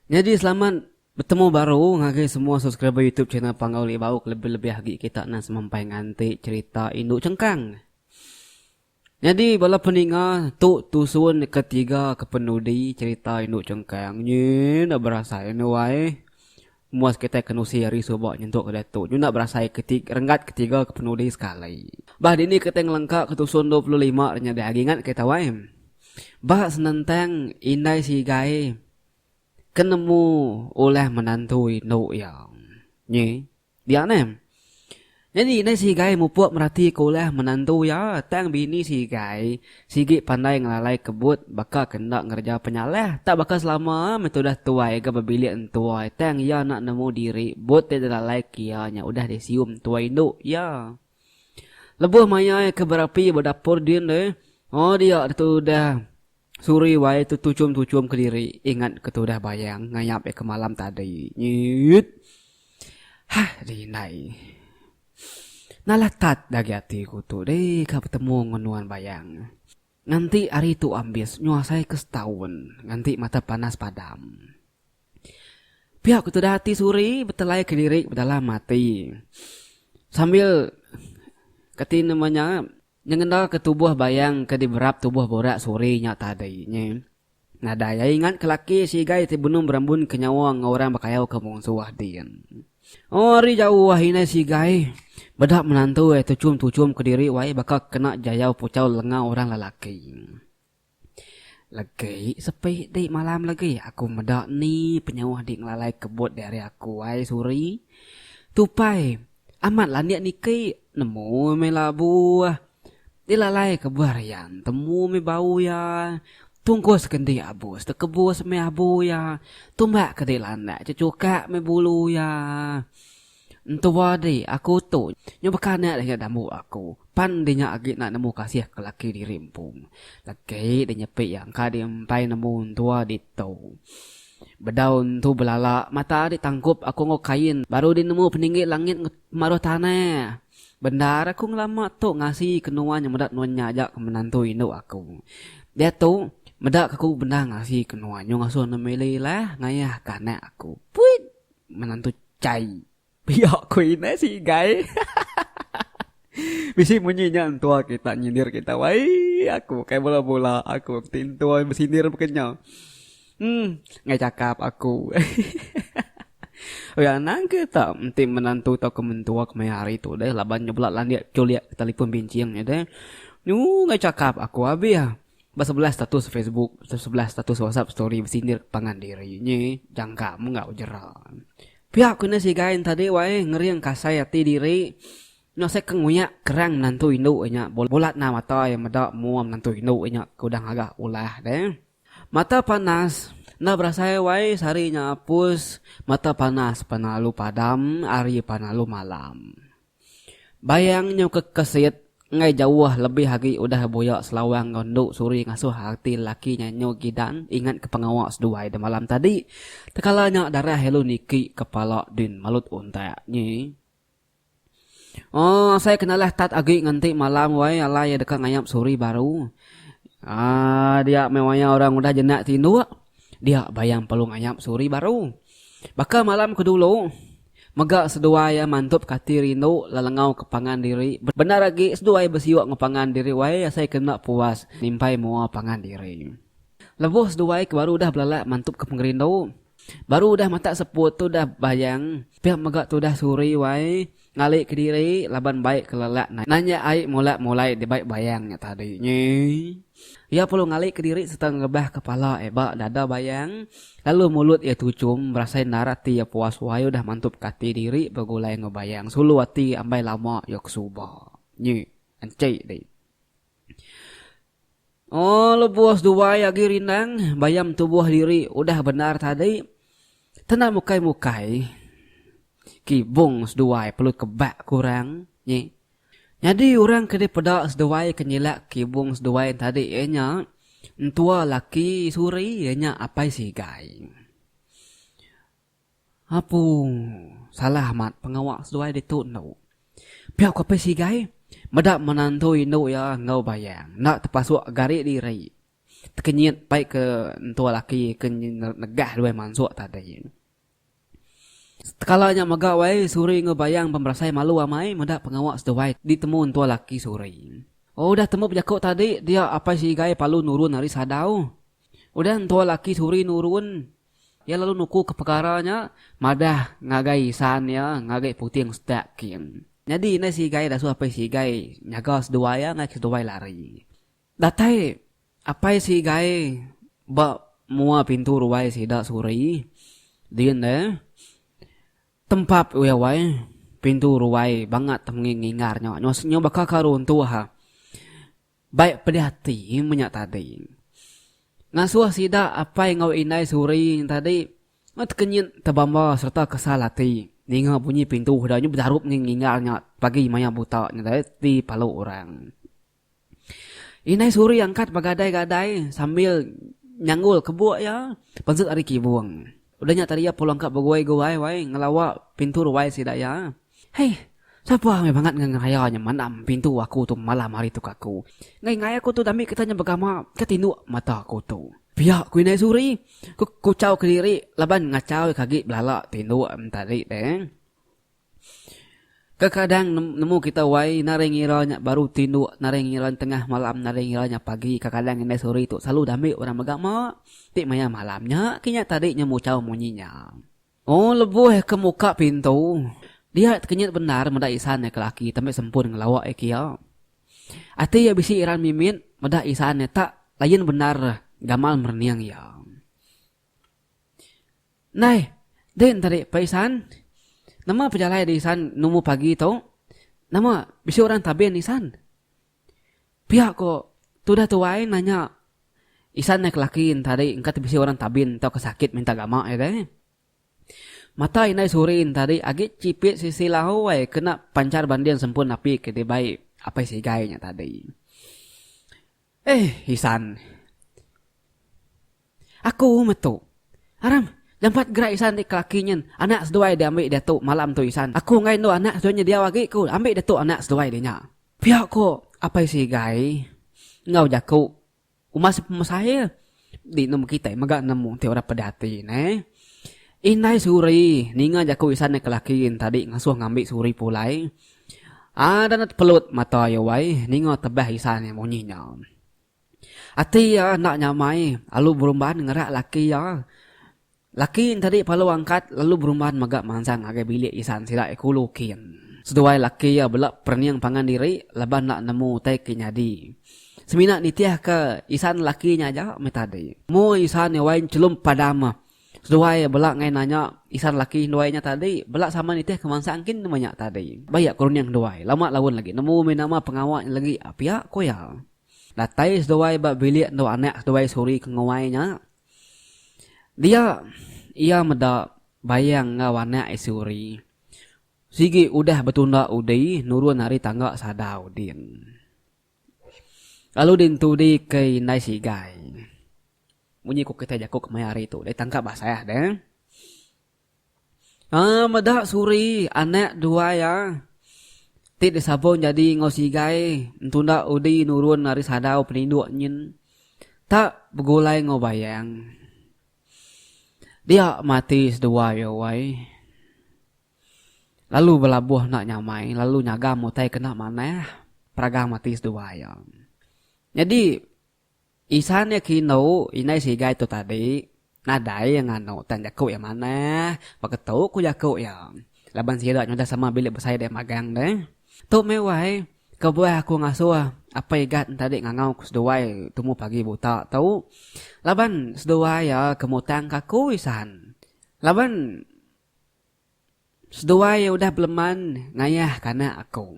Nyadi selamat betemu baru ngagai semua subscriber YouTube channel Panggau Lih Bau kelebih-lebih agi kita nan semampai nganti cherita indu chengkang. Nyadi bala peninga tu tusun deka tiga ke penudi cherita indu chengkang nyi enda berasai anu ai. Muas kitai kenusi ari suba nyentuk ke diatu nyu enda berasai ke ti renggat ke tiga ke penudi sekali. Bah dini kitai ngelengka ke tusun dua puluh lima ri nyadi agi ngat kitai wai. Ba senentang indai sigai ke nemu ulah menantu indu iya nyi. Dia neh. Nyadi indai si Igai mupuk meratika ulah menantu iya tang bini si Igai sigi pandai ngelalai kebut baka ke enda ngereja penyalah tak baka selama meh tudah tuai ga bebilik entuai tang iya enda nemu diri but ti dilalai ke iya nya udah disiu entuai indu iya. Lebuh mayai ke berapi ba dapur din deh, oh dia ditu udah. Suri wai tu tuchum-tuchum kediri ingat ke tudah bayang ngayap iya ke malam tadi. Nyiut. Hah deh indai. Nalah tat deh agi ati ku tu deh ka betemu ngan nuan bayang. Nganti hari tu ambis nyuasai ke setaun nganti mata panas padam. Pia ku tudah ati Suri betelai kediri bedalam ati sambil kati nama nya. Nyengendaka tubuh bayang ke diberap tubuh burak suri nya tadi nya, nadai ai ingat ke laki si Igai ti benung berambunka nyawa enggau orang bekayauka munsuh din. Ari jauh indai si Igai beda menantu ai tuchum-tuchumka diri wai baka kena jayau puchau lenga orang lelaki. Legi sepi di malam legi aku meda ni penyauh di ngelalai kebut di ari aku ai Suri. Tupai amat landik niki nemu meh labu dilalai ke buah rian temu meh bau iya tungkus ke enti abus tekebus meh abu iya tumbak ke di landak cecukak meh bulu iya. Entua di aku tu nyu bekanak deh nya dambu aku pan di nya agi enda nemu kasih ke laki diri empu. Laki di nyepi iya engka di empai nemu entua di tu. Bedau entu belala mata di tangkup aku enggau kain baru di nemu peninggi langit enggau pemaruh tanah. Bendar aku ngelama tu ngasi ke nuan nya meda nuan nya aja ke menantu indu aku. Diatu meda ke aku bendar ngasi ke nuan nyu ngasuh nuan mili lah ngayah ke anak aku. Puit. Menantu chai. Pia ko inai si igai. Bisi munyi nya entua kita nyindir kita wai aku kai bela bula aku ti entua besindir baka nya. Em enggai chakap aku. Oi anang ke ta enti menantu tauka mentua kemaya hari tu deh laban nya bela landik chulik telefon binching nya deh. Nyu enggai chakap aku abih. Besebelah status Facebook, besebelah status WhatsApp story besindir pangan diri nyi jangka menggau jera. Pia ku enda sigai enta dih wai ngering kasai ati diri nya asai ke nguyak kerang menantu indu iya nya bulat nah mata iya meda mua menantu indu iya nya ke udah ngaga ulah deh. Mata panas enda berasai wai sehari nya apus mata panas pelalu padam hari pelalu malam. Bayang nyauka kesit enggai jauh lebih agi udah buya selawang enggau endu suri ngasuh ati lelaki nya nyu Gidan ingatka pengawa seduai deh malam tadi. Tekala nya darah ilu niki kepala din malut untak nyi. Aaa asai kena alah tat agi ngenti malam wai alai iya deka ngayap suri baru. Aaa dia meh wayah orang udah jenak tinduk. Dia bayang Palung Ayap suri baru. Baka malam ke dulu, mega seduai iya mantup kati rindu lelengau ke pangan diri. Bendar agi seduai besiuk enggau pangan diri wai asai ke enda puas nimpai mua pangan diri. Lebuh seduai ke baru udah belalak mantupka pengerindu, baru udah matak seput tu udah bayang pia mega tudah suri wai Ngali kediri laban bai kelelak nanya ai mula mulai dibai bayang nya tadi nyi. Iya perlu ngali kediri sereta ngerebah kepala ai ba dada bayang lalu mulut iya tuchum berasai endar ati iya puas wai udah mantup ke ati diri begulai enggau bayang sulu ati ambai lama iya ke suba nyi. Enchai dih. Oh lebuh seduai agi rindang bayam tubuh diri udah bendar tadi tenda mukai mukai kibung seduai perlu kebak ku orang nyi nyadi orang ke dipeda seduai ke nyilak kibung seduai tadi iya nya entua laki suri iya nya apai sigai. Apung. Salah amat pengawa seduai ditu endo. Pia ko Apai Sigai, meda menantu indu iya enggau Bayang enda tepasuk gari diri. Tekenyit pai ke entua laki ke negah duai mansuk tadi. Setekala nya mega wai Suri enggau Bayang pun berasai malu amai meda pengawa seduai ditemu entua laki Suri. Udah temu bejaku tadi dia Apai Sigai palu nurun ari sadau. Udah entua laki Suri nurun. Iya lalu nukuka pekara nya madah ngagai isan iya ngagai puting sedak kin. Nyadi indai sigai dasuh apai sigai nyaga seduai iya ngagai seduai lari. Datai apai sigai ba mua pintu ruai sida suri din deh tempap iya wai pintu ruai bangat menging ngingar nya nyau baka ka runtuh. Bai peliati menya tadi. Ngasuh sida apai enggau indai suri nya tadi tekenyit, tebamba sereta kesal ati ninga bunyi pintu sida nya bejarup ngi ninggal nya pagi maya buta nya dai ti palu orang. Indai suri angkat begadai-gadai sambil nyanggul kebuk iya, penzet ari kibung. Udah nya tadi iya pulang ka beguai-guai wai ngelawa pintu ruai sida iya. Hei, sapa amai bangat enggau ngeraya nya mandam pintu aku tu malam hari tu ka aku. Enggai-enggai aku tu dami kita nya begama ke tinduk mata aku tu. Pia ku indai Suri, ku kuchau kediri laban ngachau iya ke agi belala tinduk enti tadi deh. Kekadang nemu kita wai nari ngira nya baru tinduk, nari ngira nya tengah malam, nari ngira nya pagi, kekadang indai suri tu selalu diambi orang mega ma ti maya malam nya kinya tadi nya muchau munyi nya. Ong lebuh ke muka pintu, dia tekenyit bendar meda Isan nya ke laki tembi sempun ngelawa iya kia. Ati iya bisi iran mimit meda Isan nya tak lain bendar gamal merening iya. Ndai, deh enteri peh isan. Nama pejalai deh isan numbu pagi tu? Nama bisi orang tabin isan? Pia ko tudah tuai nanya isan neh kelaki entari engka ti bisi orang tabin tauka sakit minta gama iya deh. Mata indai suri entari agi chipit sisi lawai kena panchar banding sempun api ke dibai apai sigai nya tadi. Eh, Isan. Aku metu. Aram, jampat gerak Isan ti kelaki nyin. Anak seduai diambi diatu malam tu Isan. Aku enggai endu anak seduai nya diau agi ku ambi diatu anak seduai dia nya. Pia ku Apai Sigai enggau jaku uma sepemesai iya. Di nemu kitai mega nemu enti orang peda ati neh. Indai Suri ninga jaku Isan nya ke laki tadi ngesuh ngambi Suri pulai. Ada enda tepelut mata iya wai ninga tebah Isan nya munyi nya. Ati iya enda nyamai alu berumban ngerak laki iya. Laki nya tadi palu angkat lalu berumban mega manzang ngagai bilik isan sida iya kulu kin. Seduai laki iya bela perening pangan diri laban enda nemu utai ke nyadi. Semina nitihka isan lelaki nya aja meh tadi. Moh isan iya wai nyelum padam. Seduai iya bela ngai nanya isan lelaki seduai nya tadi bela sama nitih ke mansang kin nama nya tadi. Ba iya ke rening seduai lama laun lagi nemu mih nama pengawa nya lagi pia ku iya. Datai seduai ba bilik endur anak seduai Suri ke Nguai nya Dia iya meda Bayang enggau anak Isuri sigi udah betunda udi nurun ari tangga sadau din. Lalu dintudi ke indai sigai. Munyi ku kitai jaku kemaya hari tu deh tangkap basah deh. Aa meda Suri anak dua iya ti disabung nyadi enggau Sigai entu enda udi nurun ari sadau peninduk nyin tak begulai enggau Bayang. Dia mati sedua iya wai. Lalu belabuh enda nyamai lalu nyagam utai kena manah peragang mati sedua iya. Nyadi. Isan iya ke indu indai sigai tu tadi, nadai iya nganu tang jaku iya manah, baka tu ku jaku iya, laban sida nyudah sama bilik besai deh magang deh. Tu meh wai, kebuah aku ngasuh apai Igat entadi ngangau ku seduai tumu pagi buta tu, laban seduai iya ke mutang ka aku isan laban. Seduai iya udah beleman ngayahka anak aku.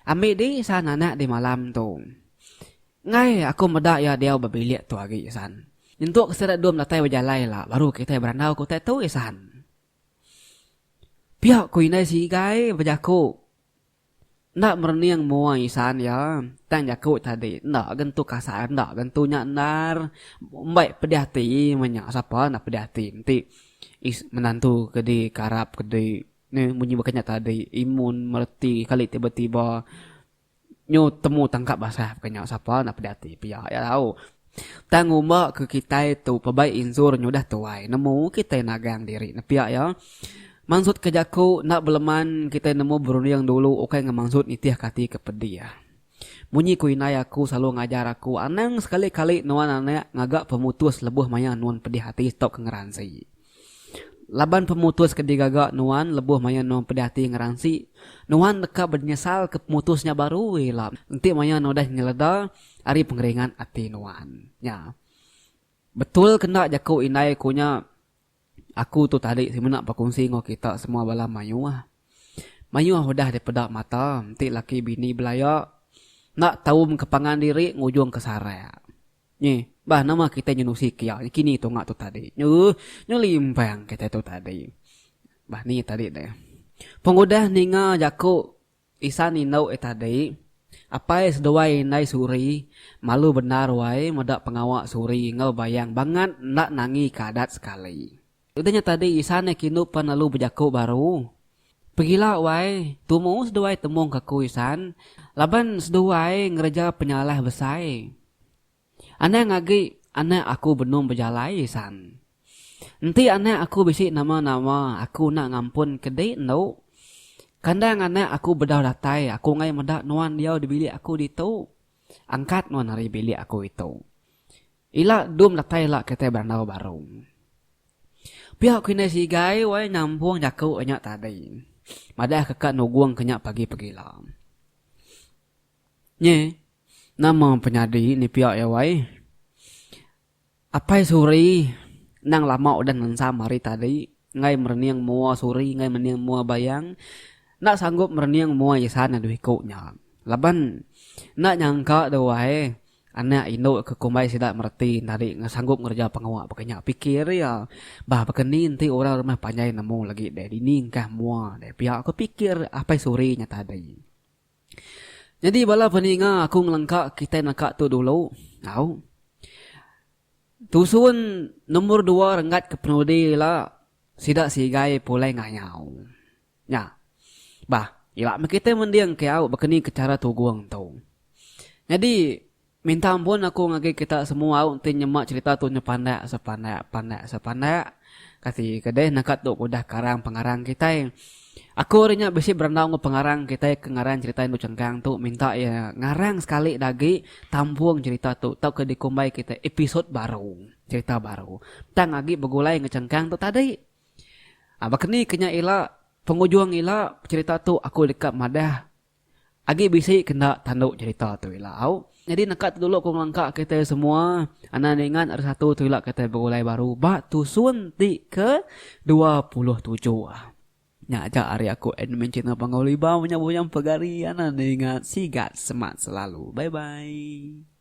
Ambi di san anak di malam tu. Enggai aku meda iya diau ba bilik tu agi san. Nyentuk ke sida dua medatai bejalai ila baru kitai berandau ke utai tu isan. Pia ku indai Sigai bejaku. Enda merening mua isan iya, tang jaku tadi enda gentu kasar enda gentu nya endar mbai pedih ati menya sapa enda pedih ati enti is menantu ke di karap ke di ne munyi baka nya tadi imun mereti kali tiba-tiba nyu temu tangkap basah baka nya sapa enda pedih ati pia iya tau Tang umba ke kitai tu pabai injur nyudah tuai nemu kitai nagang diri nepia iya. Mansut ke jaku enda beleman kitai nemu berunding dulu ukai ngemansut nitih ke ati ke pedih. Munyi ku indai aku selalu ngajar aku anang sekali kali nuan anak ngaga pemutus lebuh maya nuan pedih ati tauka ngeransi. Laban pemutus ke digaga nuan lebuh maya nuan pedih ati ngeransi, nuan deka benyesal ke pemutus nya baru ila enti maya nuan udah nyeleda ari pengeringat ati nuan nya. Betul ke enda jaku indai ku nya aku tu tadi semina bekunsi enggau kita semua bala mayuh. Mayuh udah dipeda mata enti laki bini belaya enda taumka pangan diri ngujungka sarak. Nyi, bah nama kitai nyenusi kia nyekini tunga tu tadi. Nyu, nyu limbang kitai tu tadi. Bah ni tadi deh. Pengudah ninga jaku isan indu eh tadi, apai seduai indai Suri malu bendar wai meda pengawa Suri enggau Bayang bangat enda nangi ke adat sekali. Udah nya tadi Isan iya kindu pan lalu bejaku baru, Pegila wai, tumu seduai temung ka aku Isan, laban seduai ngereja penyalah besai. Anang agi anak aku benung bejalai Isan. Enti anak aku bisi nama-nama aku enda ngampun ke di endu. Kandang anak aku bedau datai aku enggai meda nuan diau di bilik aku ditu. Angkat nuan ari bilik aku itu. Ila dum datai ila kitai berandau baru. Pia ku indai Sigai wai nyambung jaku nya tadi. Madah keka nugung ke nya pagi pegila. Nyi, nama penyadi ni pia iya wai. Apai Suri endang lama udah ngensam hari tadi enggai merening mua Suri enggai merening mua Bayang. Enda sanggup merening mua Isan adu iku nya. Laban enda nyangka duai. Anak indu ke kumbai sida mereti nyadi sanggup ngereja pengawa baka nya pikir iya. Bah baka ni enti orang rumah panjai nemu lagi deh dini engkah mua deh pia ku pikir Apai Suri nya tadi. Nyadi bala peninga aku ngelengka kitai naka tu dulu au. Tusun nombor dua renggat ke penudi ila sida sigai pulai ngayau. Nya. Bah, ila meh kitai mending ke au bakeni ke chara tugung tu. Nyadi, minta ampun aku ngagai kita semua au enti nyema cherita tu nyepandak sepandak pandak sepandak. Kati ke deh naka tu ke udah karang pengarang kitai. Aku ari nya bisi berandau enggau pengarang kitai ke ngarang cherita Indu Chengkang tu minta iya ngarang sekali dah agi tampung cherita tu tauka dikumbai kitai episode baru, cherita baru tang agi begulai enggau chengkang tu tadi. Baka ni kenya ila, pengujung ila cerita tu aku deka madah agi bisi ke enda tandu cerita tu ila au. Nyadi naka tu dulu ku ngelengka kitai semua anan ningat ari satu tu ila kitai begulai baru ba tusun ti ke dua puluh tujuh. Nya aja ari aku admin channel Panggau Libau menyabut nyam pegari anan ningat sigat semat selalu. Bye bye.